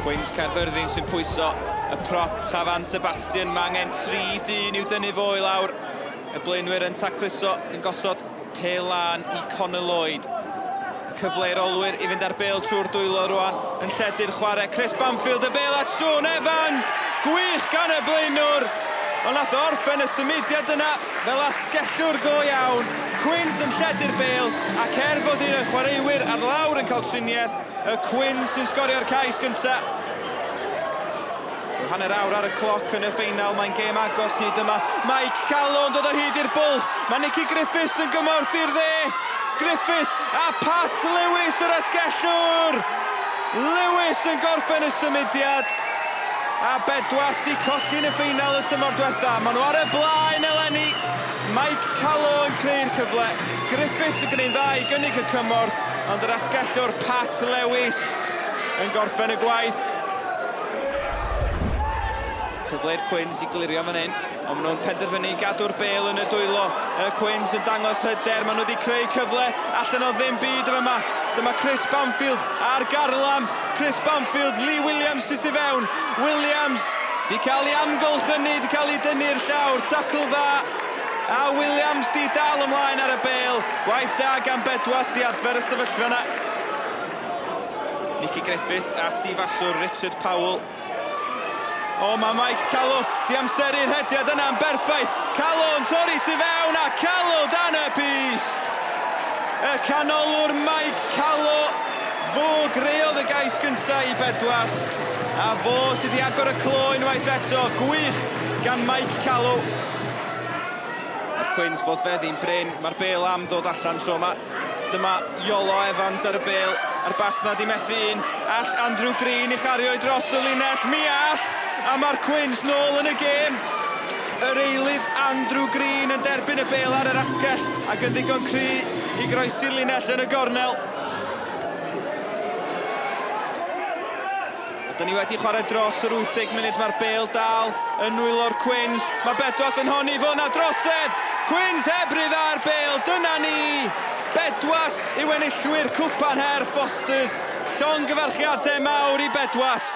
Pwynt Caerfyrddin sy'n pwyso y prop Chafan Sebastian, mae angen tri dyn i'w dynnu fo i lawr. Y blaenwyr yn tacluso, yn gosod pêl lân i Connor Lloyd. Y cyfle i'r olwyr i fynd ar bêl trwy'r dwylo rwan, yn lledu'r chwarae. Chris Banfield y bêl at Sean Evans! Gwych gan y blaenwr! Ond nath orffen y symudiad yna fel asgellwr go iawn. Quins yn lledu'r bêl, ac er bod un o'i chwaraewyr ar lawr yn cael triniaeth, y Quins sy'n sgorio'r cais gynta'. Rhyw hanner awr ar y cloc yn y ffeinal, mae'n gêm agos hyd yma. Mike Callow yn dod o hyd i'r bwll, mae Nicky Griffiths yn gymorth i'r dde. Griffiths a Pat Lewis yr asgellwr! Lewis yn gorffen y symudiad, a Bedwas di colli yn y ffeinal y tymor diwetha. Maen nhw ar y blaen eleni, Mike Callow yn creu'r cyfle, Griffiths yn gwneud dda i gynnig y cymorth, ond yr asgellwr Pat Lewis yn gorffen y gwaith. Cyfle i'r Cwins i glirio fan hyn, ond maen nhw'n penderfynu i gadw'r bel yn y dwylo. Y Cwins yn dangos hyder, maen nhw wedi creu cyfle allan o ddim byd yma. yma. Dyma Chris Banfield ar garlam. Chris Banfield, Lee Williams sy'n tu fewn. Williams di cael ei amgylch hynny, di cael ei dynnu'r llawr, tacl dda. A Williams di dal ymlaen ar y bel. Gwaith da gan Bedwas i adfer y sefyllfa yna. Nicky Griffiths at i faswr Richard Powell. O, mae Mike Callow di amseru'r hediad yna'n berffaith. Callow yn torri tu fewn a Callow dan y pist. Y canolwr Mike Callow, fo greodd y gais gyntaf i Bedwas. A fo sydd wedi agor y clo unwaith eto. Gwych gan Mike Callow. Mae'r Cwins fod feddi'n brin. Mae'r bel am ddod allan tro yma. Dyma Iolo Evans ar y bêl, a'r basnad i methu un. All Andrew Green i chario'i dros y linell? Mi all! A mae'r Cwins nôl yn y gêm. Yr eilydd, Andrew Green yn derbyn y bêl ar yr asgell ac yn ddigon cry i groesi'r linell yn y gornel. Dyn ni wedi chwarae dros yr 80 munud, mae'r bêl dal yn nwylo'r Cwins. Mae Bedwas yn honni fo na drosedd! Cwins heb ryddhau'r bêl, dyna ni! Bedwas yw enillwyr Cwpan Her Fosters, llongyfarchiadau mawr i Bedwas!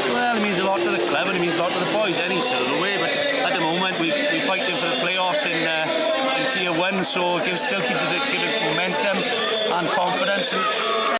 Well, it means a lot to the club and it means a lot to the boys, any silverware, but at the moment we, we're fighting for the playoffs in, uh, in Tier 1, so it gives, still keeps us giving momentum and confidence. And...